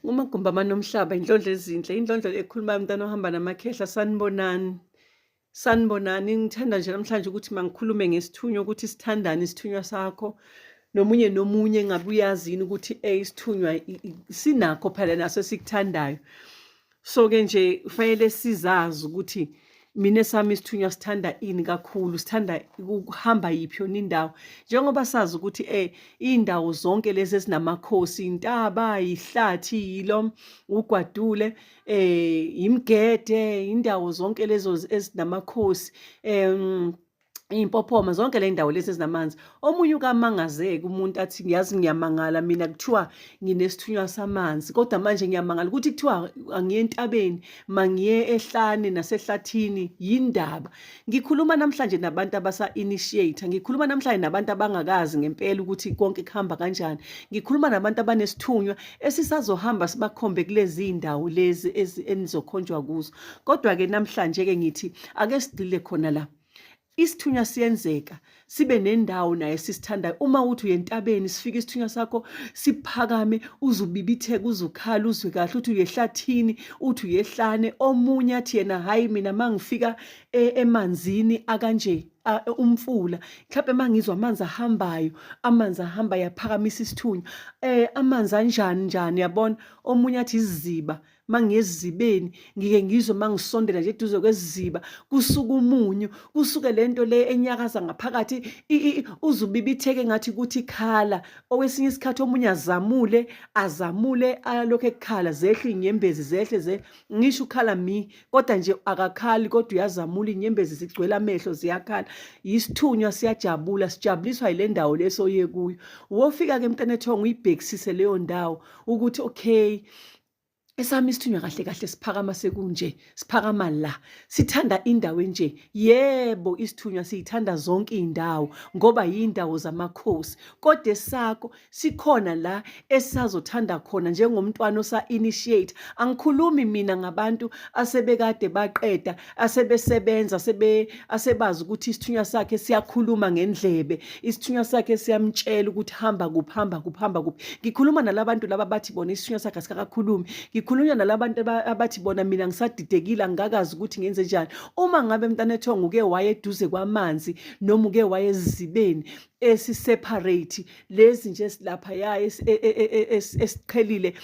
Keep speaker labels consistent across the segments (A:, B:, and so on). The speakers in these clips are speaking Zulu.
A: Ngumagumba amanomhlaba indlondlo ezinhle indlondlo ekhulumayo umntana ohamba namakhehla sanibonani sanibonani ngithanda nje namhlanje ukuthi mangikhulume ngesithunywa ukuthi sithandane isithunywa sakho nomunye nomunye ngabe uyazini ukuthi eh isithunywa sinakho phela naso esikuthandayo so ke nje kufanele sizazi ukuthi mina sami isithunywa sithanda ini kakhulu sithanda ukuhamba yiphi yona indawo njengoba sazi ukuthi eh indawo zonke lezi ezinamakhosi intaba ihlathi yilo ugwadule eh imgede indawo zonke lezo ezinamakhosi em iy'mpophoma zonke le ndawo lezi ezinamanzi omunye ukamangazeki umuntu athi ngiyazi ngiyamangala mina kuthiwa nginesithunywa samanzi kodwa manje ngiyamangala ukuthi kuthiwa angiye entabeni mangiye ehlane nasehlathini yindaba ngikhuluma namhlanje nabantu abasa-initiate ngikhuluma namhlanje nabantu abangakazi ngempela ukuthi konke kuhamba kanjani ngikhuluma nabantu abanesithunywa esisazohamba sibakhombe kulezi ndawo lezi enizokhonjwa kuzo Kodwa-ke namhlanje-ke ngithi ake sigxile khona la isithunywa siyenzeka sibe nendawo naye sisithandayo uma uthi uyentabeni sifike isithunywa sakho siphakame uzubibitheka uzukhala uzwe kahle uthi uyehlathini uthi uyehlane omunye athi yena hhayi mina ma ngifika e, emanzini akanje umfula mhlawumbe uma ngizwa amanzi ahambayo amanzi ahambayo aphakamisa isithunywa um amanzi anjani njani yabona omunye athi iziziba mangiyezibeni ngike ngizwe mangisondela nje eduze kweziba kusuka umunyu kusuke lento le enyakaza ngaphakathi uzubibitheke ngathi kuthi khala owesinye isikhathi omunye azamule azamule alokho ekukhala zehle inyembezi zehle ze ngisho ukhala mi kodwa nje akakhali kodwa uyazamula inyembezi zigcwele amehlo ziyakhala yisithunywa siyajabula sijabuliswa yile ndawo lesoye kuyo wofika ke mntanethongo uyibhekisise leyo ndawo ukuthi okay esami isithunywa kahle kahle siphakama sekunje siphakama la sithanda indawo enje yebo isithunywa siyithanda zonke iy'ndawo ngoba yiy'ndawo zamakhosi kodwa esakho sikhona la esisazothanda khona njengomntwana osa-initiate angikhulumi mina ngabantu asebekade baqeda asebesebenza sebe asebazi ukuthi isithunywa sakhe siyakhuluma ngendlebe isithunywa sakhe siyamtshela ukuthi hamba kuphi hamba kuphi hamba kuphi ngikhuluma nalabantu laba bathi bona isithunywa sakhe asikakakhulumi ngikhuluma nalabantu abathi bona mina ngisadidekile angikazi ukuthi ngenze njani uma ngabe mntanethongo uke waye eduze kwamanzi noma uke waye ezibeni esiseparate lezi nje silapha ya e, e, e, esiqhelile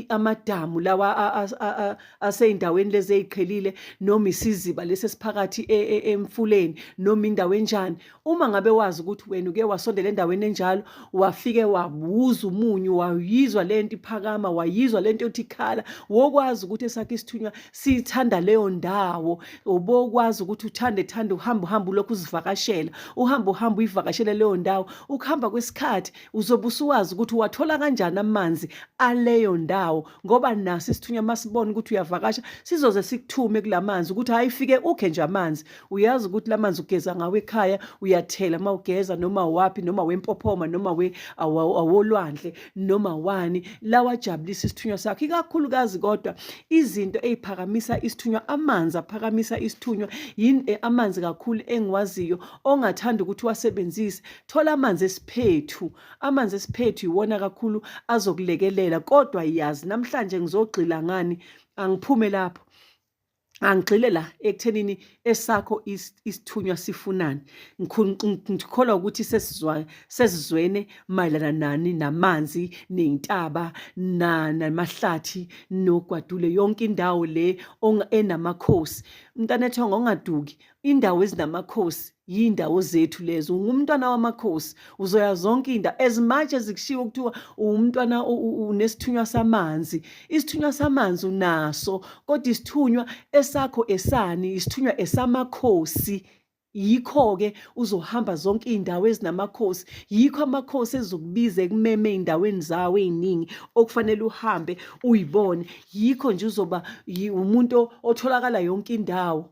A: amadamu lawa aseyindaweni lezi eziqhelile noma isiziba lesi esiphakathi e, e, emfuleni noma indawo enjani uma ngabe wazi ukuthi wena uke wasondela endaweni enjalo wafike wabuza umunyu wayizwa le nto iphakama wayizwa le nto yothi ikhala wokwazi ukuthi esakhe isithunywa sithanda leyo ndawo ubokwazi ukuthi uthande thande uhamba uhamba ulokhu uzivakashela uhamba uhamba uyivakashele leyo ndawo ukuhamba kwesikhathi uzobe usuwazi ukuthi wathola kanjani amanzi aleyo ndawo ngoba naso isithunywa masibona ukuthi uyavakasha sizoze sikuthume kulamanzi ukuthi hayi fike ukhe nje amanzi uyazi ukuthi lamanzi ugeza ngawo ekhaya uyathela mawugeza noma wapi noma wempophoma noma we awolwandle noma wani lawa jabulisa isithunywa sakhe ikakhulukazi kodwa izinto eziphakamisa isithunywa amanzi aphakamisa isithunywa yini eh, amanzi kakhulu engiwaziyo ongathanda ukuthi wasebenzise thola amanzi esiphethu Amanzi esiphethu iwona kakhulu azokulekelela kodwa yazi namhlanje ngizogxila ngani angiphume lapho angigxile la ekuthenini esakho isithunywa sifunani ngikholwa ukuthi sesizwa sesizwene mayelana nani namanzi nezintaba namahlathi nogwadule yonke indawo le enamakhosi mntanethonga ongaduki indawo ezinamakhosi yindawo zethu lezo ungumntwana wamakhosi uzoya zonke indawo as much as kushiwo kuthiwa uwumntwana unesithunywa samanzi isithunywa samanzi unaso kodwa isithunywa esakho esani isithunywa esamakhosi yikho-ke uzohamba zonke iy'ndawo ezinamakhosi yikho amakhosi ezokubiza ekumeme ey'ndaweni zawo ey'ningi okufanele uhambe uyibone yikho nje uzoba umuntu otholakala yonke indawo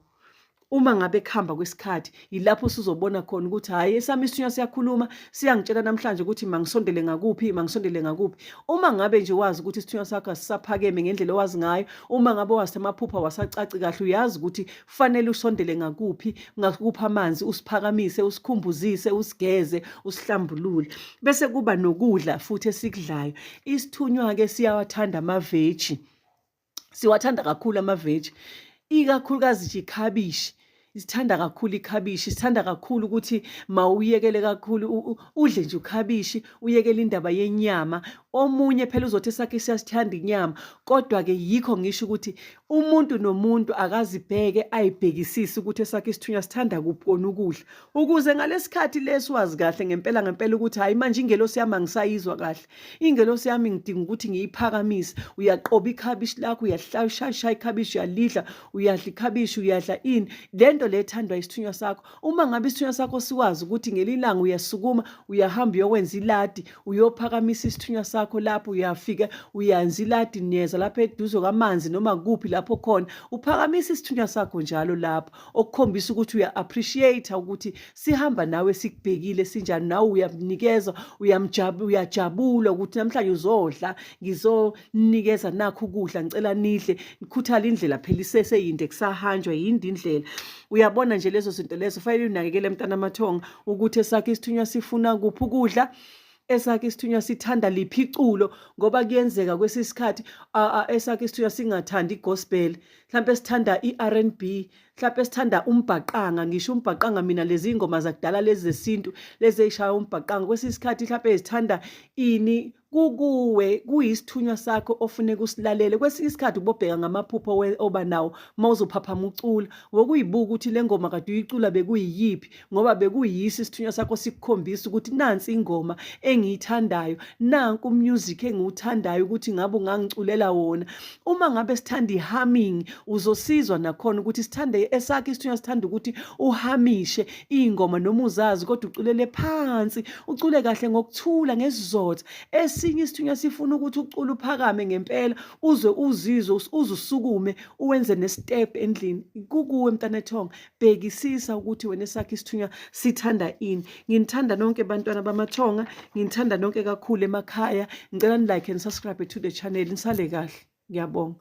A: uma ngabe kuhamba kwesikhathi yilapho usuzobona khona ukuthi hhayi esami isinywa siyakhuluma siyangitshela namhlanje ukuthi mangisondele ngakuphi mangisondele ngakuphi uma ngabe nje wazi ukuthi isithunywa sakho asisaphakeme ngendlela owazi ngayo uma ngabe wazi amaphupha wasacaci kahle uyazi ukuthi kufanele usondele ngakuphi ngakuphi amanzi usiphakamise usikhumbuzise usigeze usihlambulule bese kuba nokudla futhi esikudlayo isithunywa-ke siyawathanda amaveji siwathanda kakhulu amaveji ikakhulukazi nje ikhabishi isithanda kakhulu ikhabishi sithanda kakhulu ukuthi mawuyekele kakhulu udle nje ukhabishi uyekele indaba yenyama omunye phela uzothi sakhe siyasithanda inyama kodwa ke yikho ngisho ukuthi umuntu nomuntu akazibheke ayibhekisise ukuthi esakhe isithunywa sithanda kuphi kona ukudla ukuze ngalesikhathi lesi wazi kahle ngempela ngempela ukuthi hayi manje ingelosi yami angisayizwa kahle ingelosi yami ngidinga ukuthi ngiyiphakamise uyaqoba ikhabishi lakho uyashaya ikhabishi uyalidla uyadla ikhabishi uyadla ini le nto le ethandwa isithunywa sakho uma ngabe isithunywa sakho siwazi ukuthi ngelilanga uyasukuma uyahamba uyokwenza iladi uyophakamisa isithunywa sakho lapho uyafika uyanza iladi niyeza lapho eduze kwamanzi noma kuphi lapho khona uphakamisa isithunywa sakho njalo lapho okukhombisa ukuthi uya-appreciate ukuthi sihamba nawe sikubhekile sinjani nawe uyamnikeza uyajabula ukuthi namhlanje uzodla ngizonikeza nakho ukudla ngicela nidle nikhuthala indlela phela iseseyinde kusahanjwa yindi indlela uyabona nje lezo zinto lezo fanele unakekele mntana amathonga ukuthi esakhe isithunywa sifuna kuphi ukudla esakhe isithunywa sithanda liphi iculo ngoba kuyenzeka kwesinye isikhathi esakhe isithunywa singathandi igospel mhlawumbe sithanda i-r n b mhlawumpe sithanda umbhaqanga ngisho umbhaqanga mina lezi ngoma zakudala lezi zesintu lezi eyishaya umbhaqanga kwesinye isikhathi mhlawumpe zithanda ini kukuwe kuyisithunywa sakho ofune kusilalele kwesinye isikhathi ubobheka ngamaphupho oba nawo uma uzophaphama ucula wokuyibuka ukuthi le ngoma kade uyicula bekuyiyiphi ngoba bekuyiso isithunywa sakho sikukhombisa ukuthi nansi ingoma engiyithandayo nanku umusic engiwuthandayo ukuthi ngabe ungangiculela wona uma ngabe sithanda i-humming uzosizwa nakhona ukuthi sithande esakhe isithunywa sithanda ukuthi uhamishe iy'ngoma noma uzazi kodwa uculele phansi ucule kahle ngokuthula ngesizotha esinye isithunywa sifuna ukuthi ucule uphakame ngempela uze uzizwe uzusukume uwenze nesitepu endlini kukuwe mntanethonga bhekisisa ukuthi wena esakhe isithunywa sithanda ini nginithanda nonke bantwana bamathonga nginithanda nonke kakhulu emakhaya ngicela ni-like and subscribe to the channel nisale kahle ngiyabonga